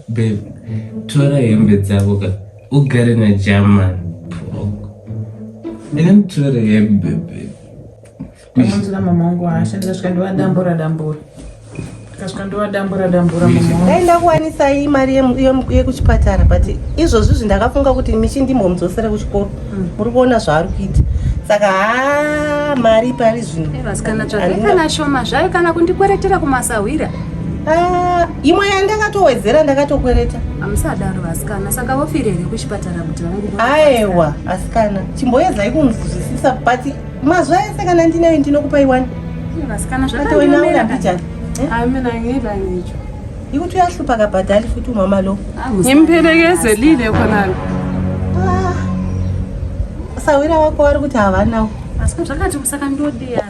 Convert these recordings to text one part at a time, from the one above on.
Babe, tora hembe dzako ka ugare na German. Ndine mutore hembe babe. Ndinotora mama wangu hasha ndikasvika ndovadambura dambura. Ndikasvika ndovadambura dambura mama wangu. Dai ndakuwanisa iyi mari yekuchipatara but izvozvi izvi ndakafunga kuti michindimbomudzosera kuchikoro. Mm. Muri kuona zvaari kuita. Saka haa mari pari zvino. Vasikana tsvakai kana shoma zvayo kana kundikweretera kumasahwira. Ah, imwe yandakatowedzera ndakatokwereta hamusadaro vasikana saka vofire here kuchipatara kuti vangu aewa asikana chimboedzai kunzwisisa but mazuva ese kana ndineyo ndinokupai wani vasikana zvakatoinaurambijani amina ngida ngicho ikuti uyahlupa kabhadhali futi umama lo ngimphelekezele ah, lile khonalo ah, sawira wako wari kuti havanawo asi zvakati kusaka ndodiya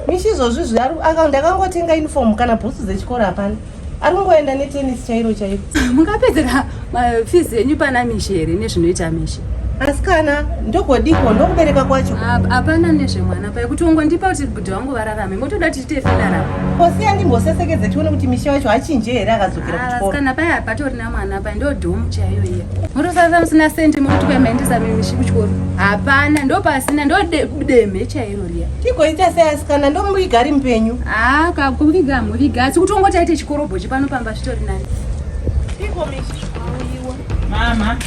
mishi izvozvi zviakandakangotenga uniform kana bhutsu dzechikoro hapana ari kungoenda netenisi chairo chairo mungapedzera mafizi enyu pana mishi here nezvinoita mishi asikana ndogodiko ndokubereka kwacho hapana nezvemwana paya kuti ungondipa kuti bhudhi wangu vararame motoda tichitefinarama kosiya ndimbosesekedze tione kuti misha wacho achinje here akadzokera kuchikoro asikana paya hapatorina mwana apa ndo dhomu chaiyo iya muri kusasa musina sendi muri kuti kwaimaendesa mimishi kuchikoro hapana ndo pasina ndo demhe chairo riya tigoita sei asikana ndo muviga ari mupenyu haa kakuviga muviga asi kuti ongotaite chikorobho chipano pamba zvitori nani mama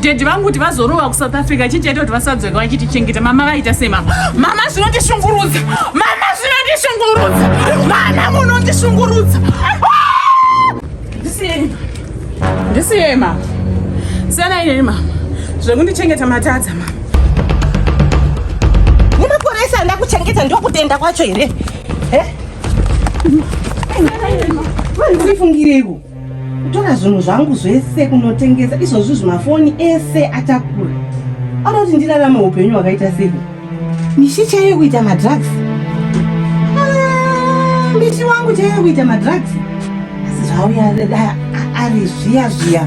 Daddy vangu kuti vazorova ku South Africa chii chaita kuti vasadzweka vachiti chengeta mama vaita sei mama mama zvinondishungurudza mama zvinondishungurudza mama munondishungurudza ndisiyema ndisiyema siyanai neni mama zvekundichengeta matadza mama mumakore ese anda kuchengeta ndokutenda kwacho here eh? Mwen se fungire yon. kutora zvinhu zvangu zvese kunotengesa izvozvi zvimafoni ese atakura anoda kuti ndirarame upenyu hwakaita sei mishi chaiyo kuita madrugs ah, mishi wangu chaiyo kuita madrugs asi zvauya ari zviya zviya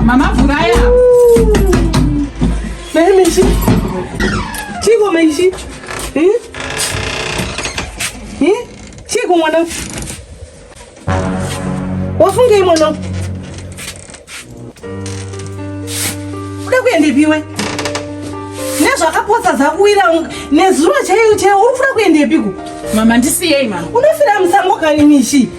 Mama Vuraya. Meme ici. Chico, meme ici. Hein? Hein? Chico, mwana. Wafunga hii mwana. Kuda kuendepi iwe? Nezvakapotsa dzakuwira nezuro chaiyo chaiyo uri kuda kuendepi ku? Mama ndisiyei mama. Unofira musango kani mishi.